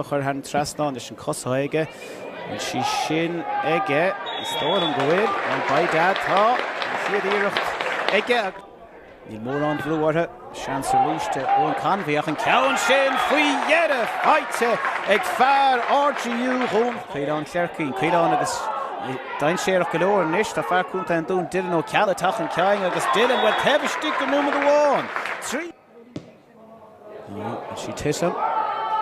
a chuir thar an trasnán leis an gcos aige. Bhfuil sí sin aige? Is dóigh liom go bhfuil. By dad, tá. An chéad iarracht aige agus. Níl mórán brú orthu. Seans arís do Eoin Convey ach an ceann sin faoi dheireadh faighte ag fear RGU Dún. Caolán Ó Cléircín. Caolán agus dainséarach go leor anois. Tá fear contae an Dúin, Dylan Ó Ceallaigh, ach an ceann agus Dylan, bhuel taobh istigh den nóiméad amháin. Trí. Is sí tite.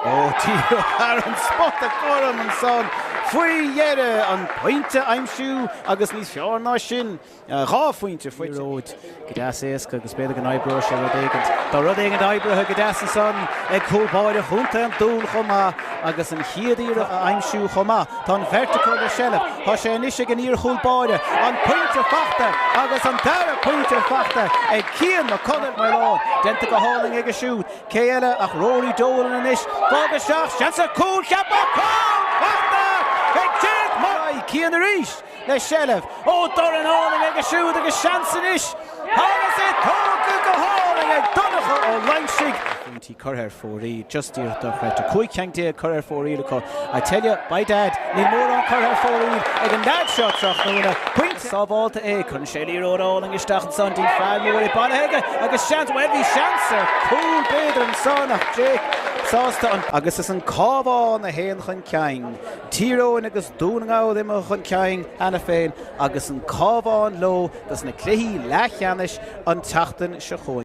Ó Odhran Murdock anso faoi dheireadh. An pointe a aimsiú agus níos fearr ná sin, dhá phointe faighte. Go deas éasca agus b'fhéidir go n-oibreoidh sé rud éigin. Tá rud éigin oibrithe go deas ansan ag cúlbáire chontae an Dúin chomh maith agus an chéad iarraidh a aimsiú chomh maith. Tá an bheirt acu le seilbh. Tá sé anois ag an iar-chúlbáire. An pointe faighte agus an dara pointe faighte ag Cian Mac Conghail mar lán. Déanta go hálainn aige siúd. Cé eile ach Rory Dolan anois. Bád isteach, seans ar chúl ceaptha, cúl faighte ag Jake Molloy! Cian arís le seilbh. Ó dorn álainn aige siúd agus seans anois agus é tógtha go hálainn ag Donncha Ó Loingsigh. curtha ar fóraoil, just díreach dochreidte, 15 cheann curtha ar fóraoil acu, I tell you, by dad, níl mórán curtha ar fóraoil ag an leaid seo tráthnóna, pointe sábháilte é, cuireann sé liathróid álainn isteach ansan, Dean Farr, mura bhfuil sé bailithe aige agus seans, bhuel bhí seans ar chúl b'fhéidir ansan ach Jake sásta an, agus is an Cabhán a théann chun cinn, Tír Eoghain agus Dún na nGall imithe chun cinn cheana féin agus an Cabhán leo dos na cluichí leathcheannais an tseachtain seo chugainn.